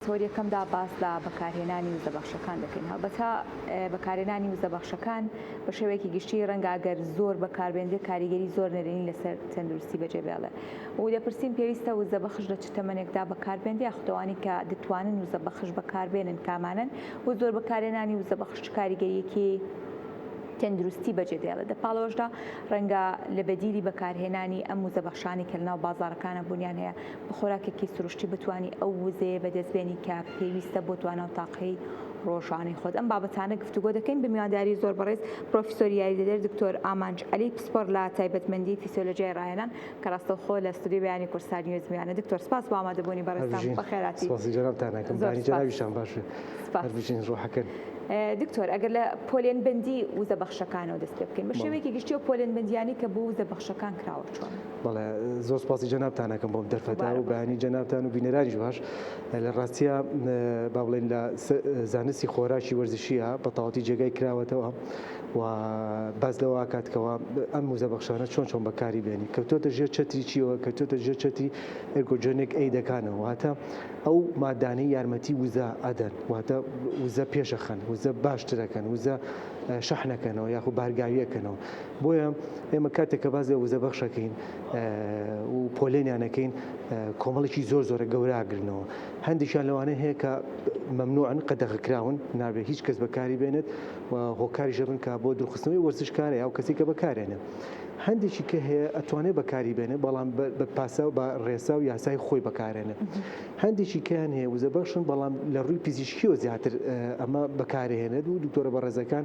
هۆر یەکەمدا باس لە بەکارهێنانی وزە بەخشەکان دەکەین. هەڵبەتە بەکارهێنانی وزە بەخشەکان بە شێوەیەکی گشتی رەنگە ئەگەر زۆر بەکاربێنرێ کاریگەری زۆر نەرێنی لەسەر تەندروستی بەجێ بێڵێ و دەپرسین پێویستە وزە بەخش لە چ تەمەنێکدا بەکاربێنرێ یاخود ئەوانەی کە دەتوانن وزە بەخش بەکاربێنن کامانەن و زۆر بەکارهێنانی وزە بەخش چ کاریگەریەکی تەندروستی بەجێ دێڵێ. دە پاڵەوەشدا رەنگە لە بەدیلی بەکارهێنانی ئەم وزە بەخشانەی کە لەناو بازاڕەکانا بوونیان هەیە، خۆراکێکی سروشتی بتانی ئەو وزەیە بەدەستبێنی کە پێویستە بۆ توانا و تاقەی ڕۆژانەی خۆت ئەم بابەتانە گفتوگۆ دەکەین بە میوانداری زۆر بەڕێز پرۆفیسۆر یاریدەدەر دکتۆر ئامانج عەلی پسپۆر لە تایبەتمەندی فیسیۆلۆجیای ڕاهێنان کە ڕاستەوخۆ لە ستۆدیۆی بەیانی کورسار نیوز میوانە دکتۆر سپاس بۆ ئامادەبوونی بەڕێزتان بەخێراتی سپاسی جەنابتان ئەکەم باری جەنابیشتان باش بێت هەر بژین ڕۆحەکەن دکتۆر ئەگەر لە پۆلێنبەندی وزە بەخشەکانەوە دەست پێ بکەین بە شێوەیەکی گشتی و پۆلێنبەندیانی کە بۆ وزە بەخشەکان کراوە چۆن بەڵێ زۆر سپاسی جەنابتان ئەکەم بۆم دەرفەتا و بەیانی جەنابتان و بینەرانیش باش لە ڕاستیە با بڵێن لە زانستی خۆراکی وەرزشیە بە تەواتی جێگای کراوەتەوە و باس لەوە کاتکەوە ئەم موزە بەخشانە چۆن چۆن بەکاری بێنی کەوتۆتە ژێر چەتری چیەوە کەوتۆتە ژێر چەتی ئەرگۆجۆنێک ئەیدەکانەوە واتە ئەو مادانەی یارمەتی وزە ئەدەن واتە وزە پێشەخەن وزە باشترەکەن وزە شەحنەکەنەوە یاخو بارگاویەکەنەوە بۆیە ئێمە کاتێک کە باس لە وزە بەخشەکەین و پۆلێنیانەکەین کۆمەڵێکی زۆر زۆرە گەوراگرنەوە هەندێکیان لەوانە هەیە کە مەمنوعن قەدەغکراون نابێت هیچ کەس بەکاری بێنێت و هۆکاری ژەبن کا بۆ درخستنەوەی وەرزشکارە یا کەسی کە بەکارێنە هەندێکی کە هەیە ئەتوانێت بەکاری بێنێ بەڵام بە پاسا و بە ڕێسا و یاسای خۆی بەکارێنێت هەندێکی کەیان هەیە وزە بەخشن بەڵام لە ڕووی پزیشکیەوە زیاتر ئەمە بەکارهێنێت و دکتۆرە بەڕێزەکان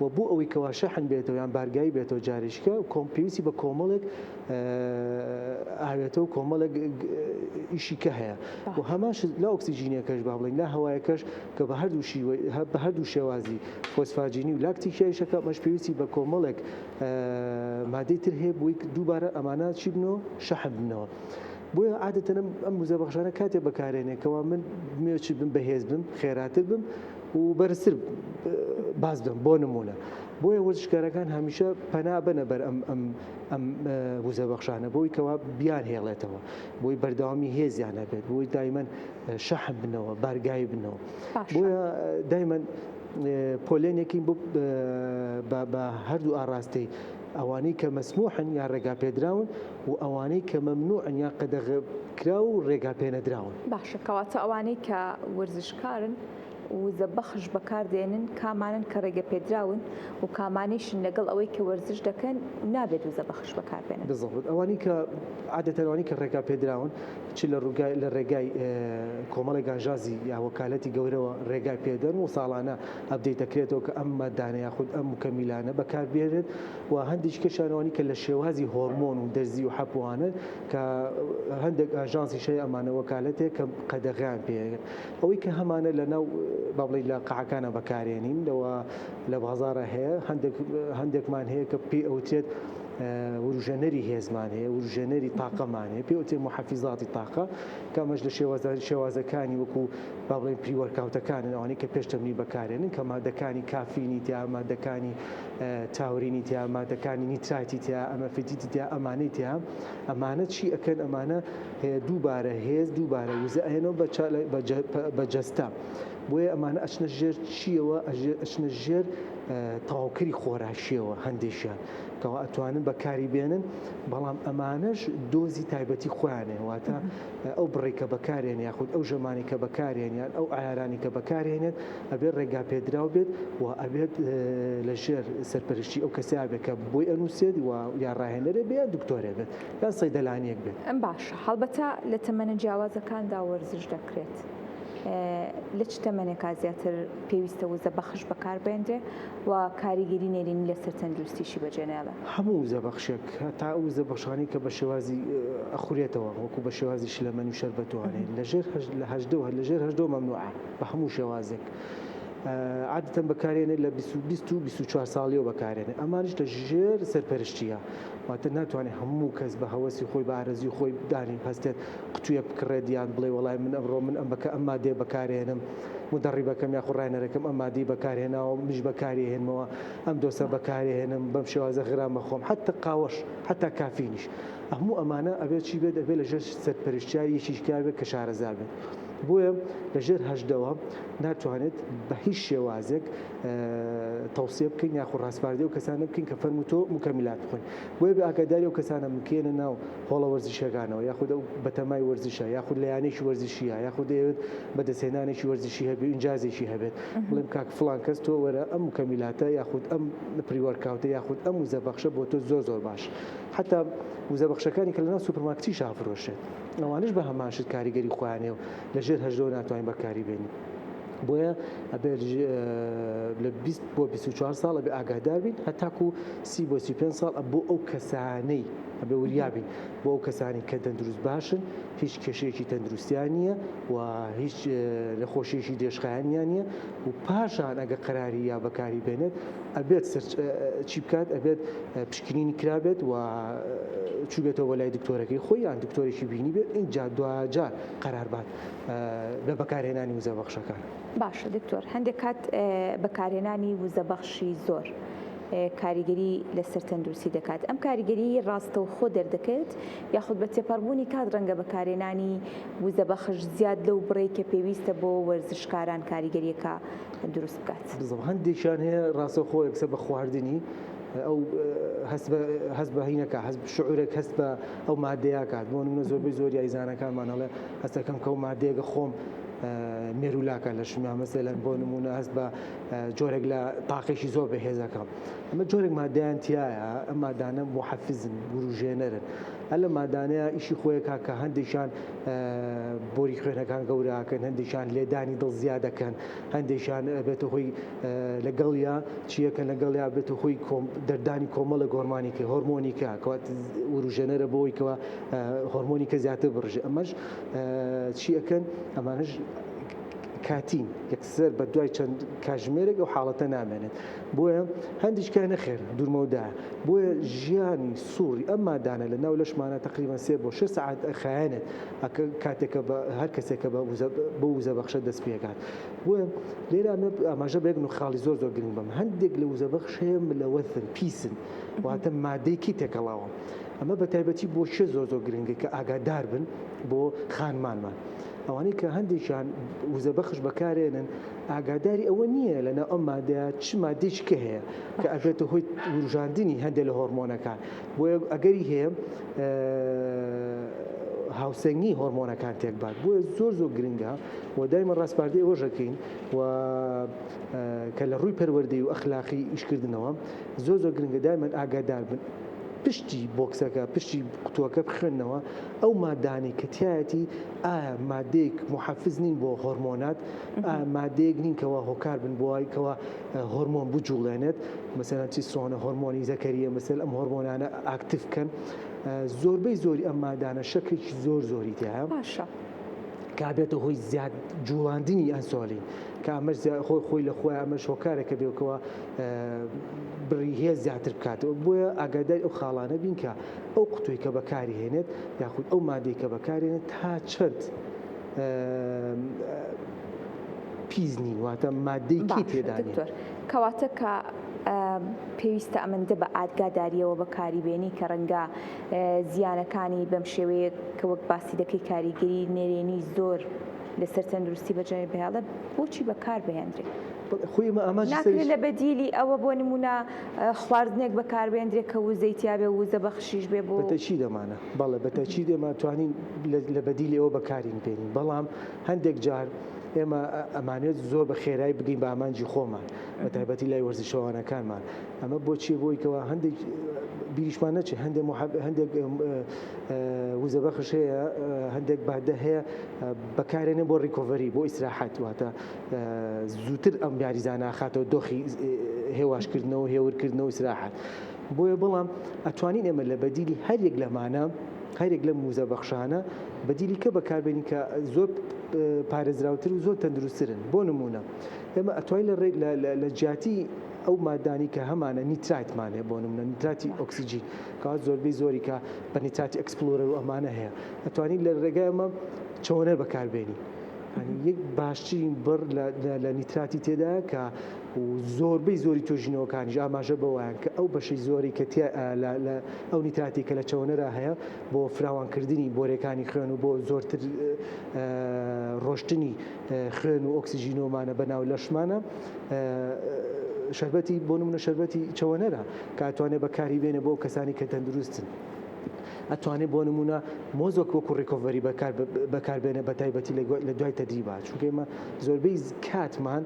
و بۆ ئەوەی کەوا شەحن بێتەوە یان بارگاوی بێتەوە جاریشکە کۆم پێویستی بە کۆمەڵێک ئاوێتە و کۆمەڵێک ئیشی کە هەیە و هەماش لە ئۆکسسیجینەکەش با بڵین لا هەوایەکەش کە بە هەردووشی بە هەردوو شێوازی فۆسفاجینی و لاکتیکیایشەکە مەش پێویستی بە کۆمەڵێک مادەی تر هەیە بووی دووبارە ئەمانە چی بنەوە شەحن بنەوە. بۆیە عادەتەنم ئەم وزە بەخشانە کاتێ بەکارێنێکەوە من مێچ بم بەهێز بم خێراتر بم و بەرزتر باس بکەم بۆ نموونە بۆیە وەرزشکارەکان هەمیشە پەنا بەنە بەر ئەم ئەم ئەم وزە بەخشانە بۆی کەوا بیان هێڵێتەوە بۆی بەردەوامی هێزیان هەبێت بۆی دایمەن شەح بنەوە بارگای بنەوە بۆیە دایمەن پۆلێنێکی بە هەردوو ئاراستەی ئەوانەی کە مەسموحن یا ڕێگا پێدراون و ئەوانەی کە مەمنوعن یا قەدەغ کرا و ڕێگا پێنەدراون باشە کەواتە ئەوانەی کە ورزش کارن وزە بەخش بەکار دێنن کامانەن کە ڕێگە پێدراون و کامانەیشن لەگەڵ ئەوەی کە وەرزش دەکەن نابێت وزە بەخش بەکار بێنن. بزڵبت، ئەوانەی کە عادەتەن ئەوانەی کە ڕێگا پێدراون چ لە ڕووگای لە ڕێگای کۆمەڵی گانژازی یا وەکالەتی گەورەوە ڕێگای پێدەن و ساڵانە ئەپدەیت دەکرێتەوە کە ئەم ماددانە یاخود ئەم مکەمیلانە بەکار بێنن و هەندێکیکەشیان ئەوانەی کە لە شێوازی هۆرمۆن و دەرزی و حەپوانن کە هەندێک ئاژانسی شای ئەمانە وەکالەتێ کە قەدەغەیان پێ ئەوەی کە هەمانە لە ناو بابڵی لە قەعەکانە بەکارێنین لەوە لە بازارە هەیە هەندێکمان هەیە کە پێ ئەوتێت وروژێنەری هێزمان هەیە وروژێنەری تاقەمان هەیە پێ وتێ محەفیزاتی تاقە کامەش لە شێوازاری شێوازەکانی وەکو با بڵێن پریوەرکاوتەکانن ئەوانەی کە پێش تەمرین بەکارێنن کە مادەکانی کافینی تیا مادەکانی تاورینی تیا مادەکانی نیترایتی تیا ئەمە فیتیتی تیا ئەمانەی تیا ئەمانە چی ئەکەن ئەمانە دووبارە هێز دووبارە وزە ئەێنەوە بە جەستە بۆیە ئەمانە ئەچنە ژێر چیەوە ئەچنە ژێر تەواوکەری خۆراشیەوە هەندێکیان کەوا ئەتوانن بەکاری بێنن بەڵام ئەمانەش دۆزی تایبەتی خۆیانێ واتە ئەو بڕێکە بەکارێن یاخود ئەو ژەمانی کە بەکارێنیان ئەو ئارانی کە بەکارێنێت ئەبێت ڕێگا پێدراو بێت و ئەبێت لە ژێر سەرپەرشتی ئەو کەسیا بێت کە بۆی ئەنووسێت و یا ڕاهێنەرێ بێ دکتۆرێ بێت یان سەیدەلانیەک بێت. ئەم باشە هەڵبەتە لە تەمەنە جیاوازەکاندا وەرزش دەکرێت لە چ تەمەنێکا زیاتر پێویستە وزە بەخش بەکار بێنرێ و کاریگەری نێرینی لەسەر تەندروستیشی بەجێنێڵێ؟ هەموو وزە بەخشێک هەتا ئەو وزە بەخشانەی کە بە شێوازی ئەخورێتەوە وەکو بە شێوازی شلەمەنی و شەربەتوانێ لە ژێر لە هەژدە و هەر لە ژێر هەژدە مەمنوعە. بە هەموو شێوازێک عادەتەن بەکارێنێت لە بیست و بیست و بیست و چوار ساڵیەوە بەکارێنێت ئەمانش لە ژێر سەرپەرشتیە واتە ناتوانێت هەموو کەس بە هەوەسی خۆی بە ئارەزی خۆی دانی هەستێت قوتویەک بکڕێت یان بڵێ وەڵای من ئەمڕۆ من ئەم بەکە ئەم مادێ بەکارێنم مدەڕیبەکەم یا خوڕاینەرەکەم ئەم مادی بەکارهێناوە منیش بەکاری هێنمەوە ئەم دۆسە بەکارێ هێنم بەم شێوازە غرام بەخۆم حتا قاوەش حتا کافینیش هەموو ئەمانە ئەبێت چی بێت ئەبێت لە ژێر سەرپەرشتیاری یەکیش کار بێت کە شارەزا بێت. بۆیە لە ژێر هەژدەوە ناتوانێت بە هیچ شێوازێک تەوسیە بکەین یاخو ڕاسپاردی و کەسانە بکەین کە فەرمو تۆ مکەمیلات بخۆن بۆیە بە ئاگاداری و کەسانە مکێنە ناو هۆڵە وەرزشەکانەوە یاخود ئەو بەتەمای وەرزشە یاخود لە یانێکی وەرزشیە یاخود دەیەوێت بەدەستهێنانێکی وەرزشی هەبێ ئینجازێکی هەبێت بڵێم کاک فلان کەس تۆ وەرە ئەم مکەمیلاتە یاخود ئەم پریوەرکاوتە یاخود ئەم وزە بەخشە بۆ تۆ زۆر زۆر باش حتا وزە بەخشەکانی کە لەناو سوپرماکتی شافرۆشێت ئەوانیش بە هەمان شت کاریگەری خۆیان هەیە و لە ژێر هەژدەوە ناتوانین بەکاری بێنین بۆیە ئەبێت لە 20 بۆ 24 ساڵ ئەبێ ئاگادار بین هەتاکو سی بۆ سی پێنج ساڵ بۆ ئەو کەسانەی ئەبێ وریابین بۆ ئەو کەسانی کە دەندروست باشن هیچ کێشەیەکی تەندروستیان نییە و هیچ نەخۆشیەکی دێشخایانیان نیە و پاشان ئەگە قەراری یا بەکاری بێنێت ئەبێت سرچ چی بکات ئەبێت پشکنینی کرابێت و چوبێتەوە بە لای دکتۆرەکەی خۆی یان دکتۆرێکی بینی بێت اینجا دواجار قەرار بات لە بەکارهێنانی وزە بەخشەکان باشە دکتۆر هەندێک کات بەکارهێنانی وزە بەخشی زۆر کاریگەری لەسەر تەندروستی دەکات ئەم کاریگەری ڕاستە و خۆ دەردەکەوێت یاخود بە تێپەڕبوونی کات ڕەنگە بەکارێنانی وزە بەخش زیاد لەو بڕێک کە پێویستە بۆ وەرزشکاران کاریگەریەکە دروست بکات. بزم هەندێکیان هەیە ڕاستەوخۆ یەکسەر بە خواردنی ئەو هەست بە هینەکە هەست شعورێک هەست بە ئەو مادەیە کات بۆ منە زۆربەی زۆر یایزانەکانمان هەڵێ هەستەکەم کەو مادەیەگە خۆم مێرولاکە لە شما مەسە لە بۆ نمونە هەست بە جۆرێک لە تاقێکی زۆر بەهێزەکەم ئەمە جۆرێک مادەیان تایە ئەم مادانە بۆ حەفزن وروژێنەرن هە لە مادانەیە ئیشی خۆیەکە کە هەندێکیان بۆری خوێنەکان گەوراکەن هەندێکیان لێدانی دڵ زیادەکەن هەندێکیان ئەبێتە هۆی لە گەڵیا چییە کە لە گەڵیا بێتە هۆی دەردانی کۆمەڵە گۆرمانی کە هۆرمۆنی کە کەوات وروژێنەرە بۆی کەەوە هۆرمۆنی کە زیاتر بڕژێ ئەمەش چیەکەن ئەمانش کاتین یەکسەر بە دوای چەند کاژمێرێک ئەو حاڵەتە نامێنێت بۆیە هەندیشکای نەخێر دوورمەودا بۆیە ژیانی سوڕی ئەم مادانە لە ناو لەشمانە تقریبان سێ بۆ شش سعات خایەنێت ئەکە کاتێک کە بە هەر کەسێک کە بە وزە بە وزە بەخشە دەست پێکات بۆیە لێرە مە ئاماژە بێک و خاڵی زۆر زۆر گرنگ بم هەندێک لە وزە بەخش هەیە ملەوەثن پیسن واتە مادەیەکی تێکەڵاوە ئەمە بە تایبەتی بۆ شێ زۆر زۆر گرنگە کە ئاگادار بن بۆ خانمانمان ئەوانەی کە هەندێکیان وزە بەخش بەکارێنن ئاگاداری ئەوە نییە لەناو ئەم مادەیە چ مادێکی کە هەیە کە ئەبێتە هۆی وروژاندنی هەندێک لە هۆرمۆنەکان بۆیە ئەگەری هەیە هاوسەنگی هۆرمۆنەکان تێکبات بۆیە زۆر زۆر گرنگە و دایمە ڕاستپاردەی ئەوەش دەکەین و کە لە ڕووی پەروەردەی و ئەخلاقی ئیشکردنەوە زۆر زۆر گرنگە دایمەن ئاگادار بن پشتی بۆکسەکە پشتی قوتووەکە بخوێندنەوە ئەو مادانی کە تایەتی ئایا مادێک محەفز نین بۆ هۆرمۆنات مادێک نین کەەوە هۆکار بن بۆی کەەوە هۆرمۆن بجوڵێنێت مەسەلەن تیسترۆنە هۆرمۆنی زەکەریە مەسەل ئەم هۆرمۆنانە ئاکتیف بکەن زۆربەی زۆری ئەم مادانە شەکرێکی زۆر زۆری تیاە باشە کابێتە هۆی زیاد جوڵاندنی ئەنسۆلی کە ئەمەش خۆی خۆی لە خۆی ئەمەش هۆکارێکە بێکەوە بڕی هێز زیاتر بکاتەوە بۆیە ئاگادای ئەو خاڵانە بین کە ئەو قوتوی کە بەکاری هێنێت یاخود ئەو مادەی کە بەکارێنێت تا چەند پیس نین واتە مادەی کی تێدا نیە. باشە دکتۆر کەواتە کە پێویستە ئەمەندە بە ئادگاداریەوە بەکاری بێنی کە رەنگە زیانەکانی بەم شێوەیە کە وەک باسی دەکەی کاریگەری نەرێنی زۆر لەسەر تەندروستی بە جەنێ بهێڵێ بۆچی بەکار بهێندرێ؟ خۆی ئمە ئاماجی سەری. ناکرێ لە بەدیلی ئەوە بۆ نمونە خواردنێک بەکار بێندرێ کە وزەی تیا بێ ووزە بەخشیش بێ بۆ. بەتەکید ئەمانە بەڵێ بەتەکید ئێمە توانین لە بەدیلی ئەوە بەکارین بێنین بەڵام. هەندێک جار ئێمە ئەمانێت زۆر بە خێرای بگەین بە ئامانجی خۆمان بە تایبەتی لای وەرزشەوانەکانمان ئەمە بۆچی بۆیکەوە هەندێک بیریشمان نەچێ هەندێک هەندێک وزە بەخش هەیە هەندێک بادە هەیە بەکارێنێ بۆ ڕیکۆڤری بۆ ئیسراحەت واتە زووتر ئەم یاریزانە خاتەوە دۆخی هێواشکردنەوە هێورکردنەوە ئیسراحەت بۆیە بەڵام ئەتوانین ئێمە لە بەدیلی هەر یەک لەمانە، هەر یەک لەم ووزە بەخشانە بەدیلی کە بەکاربێنین کە زۆر پارێزراوتر و زۆر تەندروسترن بۆ نموونە ئێمە ئەتوای لە ڕێ لە جیاتی ئەو مادانی کە هەمانە نیتراتمان هەیە بۆ نمونە نیتراتی ئۆکسسیجین کە زۆربەی زۆری کە بە نیتراتی ئەکسپلۆرەر و ئەمانە هەیە ئەتوانین لە ڕێگای ئەمە چۆنەر بەکاربێنی یەک باشترین بڕ لە نیتراتی تێدا کە و زۆربەی زۆری توێژینەوەکانیش ئاماژە بەوەیان کە ئەو بەشەی زۆری کە ئەو نیتراتی کە لە چەوەنەرا هەیە بۆ فراوانکردنی بۆرێکانی خوێن و بۆ زۆرتر ڕۆشتنی خوێن و ئۆکسسیژینۆمانە بە ناو لەشمانە شربەتی بۆ منە شربەتی چەوەنەرە کاتوانێت بەکاری بێنە بۆ کەسانی کە تەندروستن. ئەتوانێت بۆ نمونە مۆزۆک وەکو ڕیکۆڤەری بەکاربێنە بە تایبەتی لە دوای تەدریبات چونکە ئێمە زۆربەی کاتمان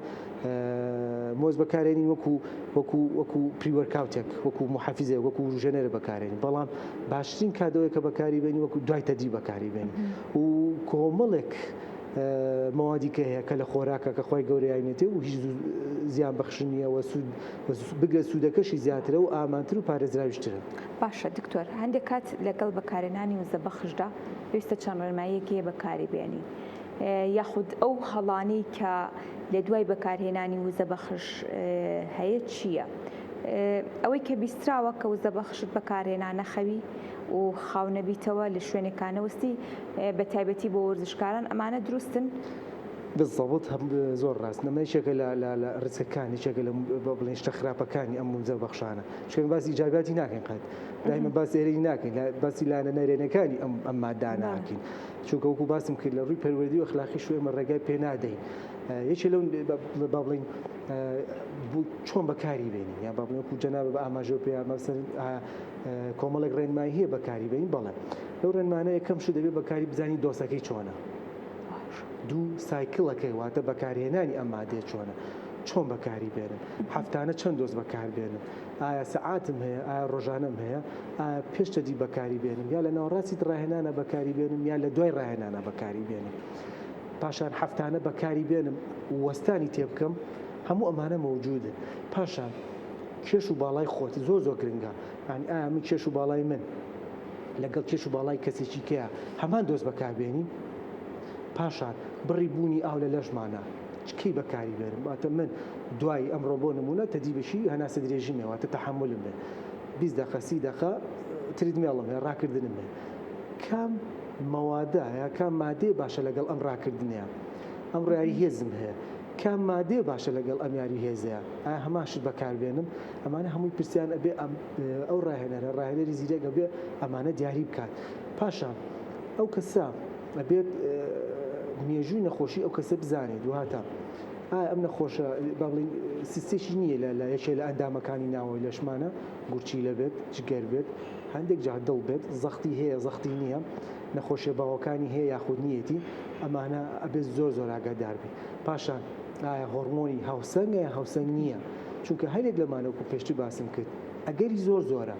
مۆز بەکارێنین وەکو وەکو وەکو پریوەرکاوتێک وەکو محافزێک وەکو وروژێنەرە بەکارێنین بەڵام باشترین کادەوەی کە بەکاری بێنی وەکو دوای تەدی بەکاری بێن و کۆمەڵێک مەوادی کە هەیە کە لە خۆراکە کە خۆی گەورەیانێتی و هیچ زیان بەخشنیەوە سوود بگە سوودەکەشی زیاترە و ئامانتر و پارێزراویشترن باشە دکتۆر هەندێک کات لەگەڵ بەکارێنانی وزە بەخشدا پێویستە چەند ڕێنماییەکی بەکاری بێنی یاخود ئەو هەڵانەی کە لە دوای بەکارهێنانی وزە بەخش هەیە چییە؟ ئەوەی کە بیستراوە کە وزە بەخشت بەکارهێنا نەخەوی و خاو نەبیتەوە لە شوێنێکا نەوەستی بە تایبەتی بۆ وەرزشکاران ئەمانە دروستن؟ بالضبط زۆر ڕاست نەمە یەکێکە لە لە ڕیسکەکان یەکێکە لە با بڵێین شتە خراپەکانی ئەم وزە بەخشانە چونکە ئێمە باسی ئیجابیاتی ناکەین قەت دایمە باس ئێرەی ناکەین باسی لایەنە نەرێنەکانی ئەم ئەم مادانە ناکەین. چونکە وەکو باسم کرد لە ڕووی پەروەردی و ئەخلاقیش ئێمە ڕێگای پێ نادەین یەکێ لەو با بڵین چۆن بەکاری بێنین یا با بڵێن وەکو جەنابە بە ئاماژە پێ مەسەر کۆمەڵێک ڕێنمایی هەیە بەکاری بێنین بەڵێ لەو ڕێنمانە یەکەم شو دەبێت بەکاری بزانین دۆسەکەی چۆنە دوو سایکلەکەی واتە بەکارهێنانی ئەم مادەیە چۆنە چۆن بەکاری بێنن هەفتانە چەند دۆست بەکاربێنن ئایا سەعاتم هەیە؟ ئایا ڕۆژانەم هەیە؟ ئایا پێش تەدی بەکاری بێنم یا لە ناوەڕاستی ڕاهێنانە بەکاری بێنم یا لە دوای ڕاهێنانە بەکاری بێنم؟ پاشان هەفتانە بەکاری بێنم وەستانی تێ بکەم هەموو ئەمانە مەوجودن پاشان کێش و باڵای خۆت زۆ زۆ گرنگە ئەنی ئایا من کێش و باڵای من لەگەڵ کێش و باڵای کەسێکی کەیە هەمان دۆست بەکاربێنی پاشان بڕی بوونی ئاو لە لەشمانە کەی بەکاری بێنم واتە من دوای ئەمڕۆ بۆ نمونە تەدی بەشی هەناسە درێژیم هەیە واتە تەحەمولم بێ بیست دەقە سی دەقە تریدمێڵم هەیە ڕاکردنم هەیە کام مەوادە یا کام مادێ باشە لەگەڵ ئەم ڕاکردنەیە ئەم ڕیاری هێزم هەیە کام مادێ باشە لەگەڵ ئەم یاری هێزەیە ئایا هەمان شت بەکاربێنم ئەمانە هەمووی پرسیان ئەبێ ئەو ڕاهێنەرە ڕاهێنەری زیرەک ئەبێ ئەمانە دیاری بکات پاشان ئەو کەسە ئەبێت مێژووی نەخۆشی ئەو کەسە بزانێت وهاتا ئایا ئەم نەخۆشە بەڵی سیستێکی نییە لە لە یەکێ لە ئەندامەکانی ناوەوەی لەشمانە گورچی لە بێت جگەر بێت هەندێک جا دڵ بێت زەختی هەیە زەختی نییە نەخۆشیە باوەکانی هەیە یاخود نیەتی ئەمانە ئەبێت زۆر زۆر ئاگادار بێت پاشان ئایا هۆرمۆنی هاوسەنگە یا هاوسەنگ نییە چونکە هەرێک لەمانەوەکو پێشتر باسم کرد ئەگەری زۆر زۆرە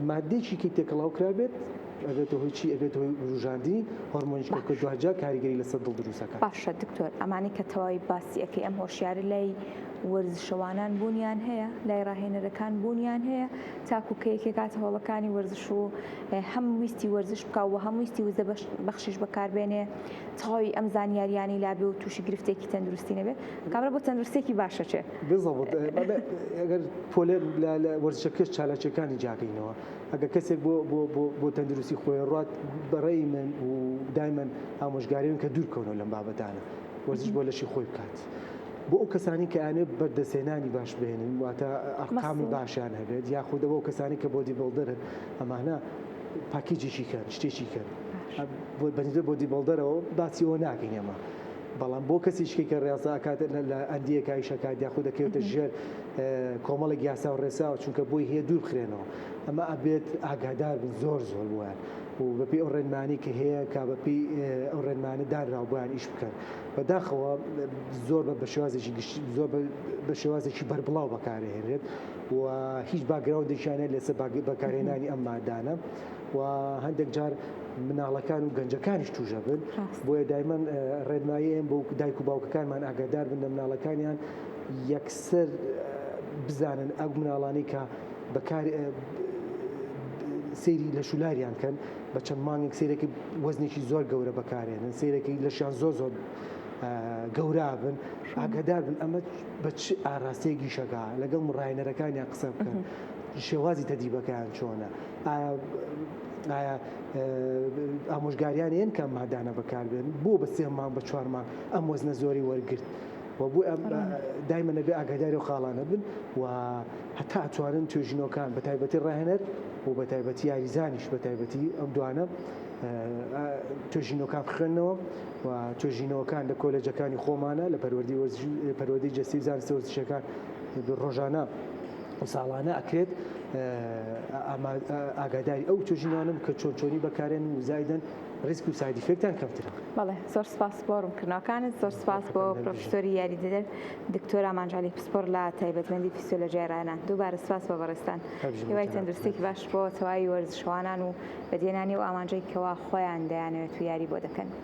مادێکی کە تێکەڵاو کرابێت ئەبێتە هۆی چی ئەبێت هۆی وروژاندنی هۆرمۆنی شکۆکە دوجار کاریگەری لەسەر دڵ دروستەکە باشە دکتۆر ئەمانی کە تەواوی باسی ئەەکەی ئەم هۆشیاری لای وەرزشەوانان بوونیان هەیە لای ڕاهێنەرەکان بوونیان هەیە تاکو کە یەکێکات هۆڵەکانی وەرزش و هەم ویستی وەرزش بکە و هەم ویستی وزە بەخشیش بەکاربێنێ تەواوی ئەم زانیاریانی لابێ و تووشی گرفتێکی تەندروستی نەبێت کابرا بۆ تەندروستێکی باشە چێ بزەبت پۆلێ وەرزشەکەش چالاکیەکانی جاگەینەوە ئەگەر کەسێک بۆ بۆ بۆ بۆ تەندروستی خۆی ڕات بەڕێی من و دایمەن ئامۆژگاریون کە دوور کەونەوە لەم بابەتانە وەرزش بۆ لەشی خۆی بکات. بۆ ئەو کەسانی کە ئەیانەوێت بەردەستهێنانی باش بهێنن واتە ئەرقامی باشیان هەبێت یاخود ئەوە کەسانی کە بۆدی بڵدرن ئەمانە پاکیجێکی کەن شتێکی کەن بۆ بەنزە بۆدی بڵدەرەوە باسی ئەوە ناکەین ئێمە بەڵام بۆ کەسیشکی کە ڕێازە ئەکات لە ئەندیە کایش ئەکات یاخود دەکەوێتە ژێر کۆمەڵێک یاسا و ڕێساوە چونکە بۆی هەیە دوور بخرێنەوە ئەمە ئەبێت ئاگادار بن زۆر زۆر بووە و بەپی ئەو ڕێنمانی کە هەیە کا بەپی ئەو ڕێنمانە دانراو بۆیان ئیش بکەن بەداخەوە زۆر بە بەشێوازێکی گشت زۆر بە شێوازێکی بەربڵاو بەکارهێنرێت و هیچ باگراوندێکیانە لەسەر بەکارهێنانی ئەم مادانە و هەندێک جار مناڵەکان و گەنجەکانیش توژە بن بۆیە دایمەن ڕێنمایەن بۆ دایک و باوکەکانمان ئاگادار بن لە مناڵەکانیان یەکسەر بزانن ئەو مناڵانی کە بەکار سری لە شولاریان کەن بە چەند مانگێک سیرەکی وەزنێکی زۆر گەورە بەکارێنن سیرەکی لەشیان زۆر زۆر گەورا بن ئاگدار بن ئەمە بە چ ئاراستەیەکی شەکە لەگەڵ مڕایەنەرەکانیان قسە بکەن شێوازی تەدیبەکەیان چۆنە ئایا ئامۆژگاریان یەن کە ئەم مادانە بەکاربێن بۆ بە سێ مانگ بە چوار مانگ ئەم وەزنە زۆری وەرگرت و بۆ ئەم دایمە نەبێ ئاگاداری و خاڵانە بن و هەتا توانن توێژینەوەکان بە تایبەتی ڕاهێنەر و بە تایبەتی یاریزانیش بە تایبەتی ئەم دوانە توێژینەوەکان خوێندنەوە و توێژینەوەکان لە کۆلێجەکانی خۆمانە لە پەروەردی پەروەدەی جەستی زانستە وەرزشەکان ڕۆژانە ساڵانە ئەکرێت ئاگاداری ئەو توژینانم کە چۆن چۆنی بەکارێن و زایدن ریسک و سایدی فێکتان کەمترە بەڵێ زۆر سپاس بۆڕم کردنەکانت زۆر سپاس بۆ پرۆفسۆری یاریدەدەر دکتۆر ئامانجالی پسپۆر لە تایبەتمەندی فیسۆلۆژیای ڕایانە دووبارە سپاس بۆ بەڕێستان هیوای تەندروستێکی باش بۆ تەواوی وەرزشوانان و بەدێنانی و ئامانجێکەوە خۆیان دەیانەوێت و یاری بۆ دەکەن.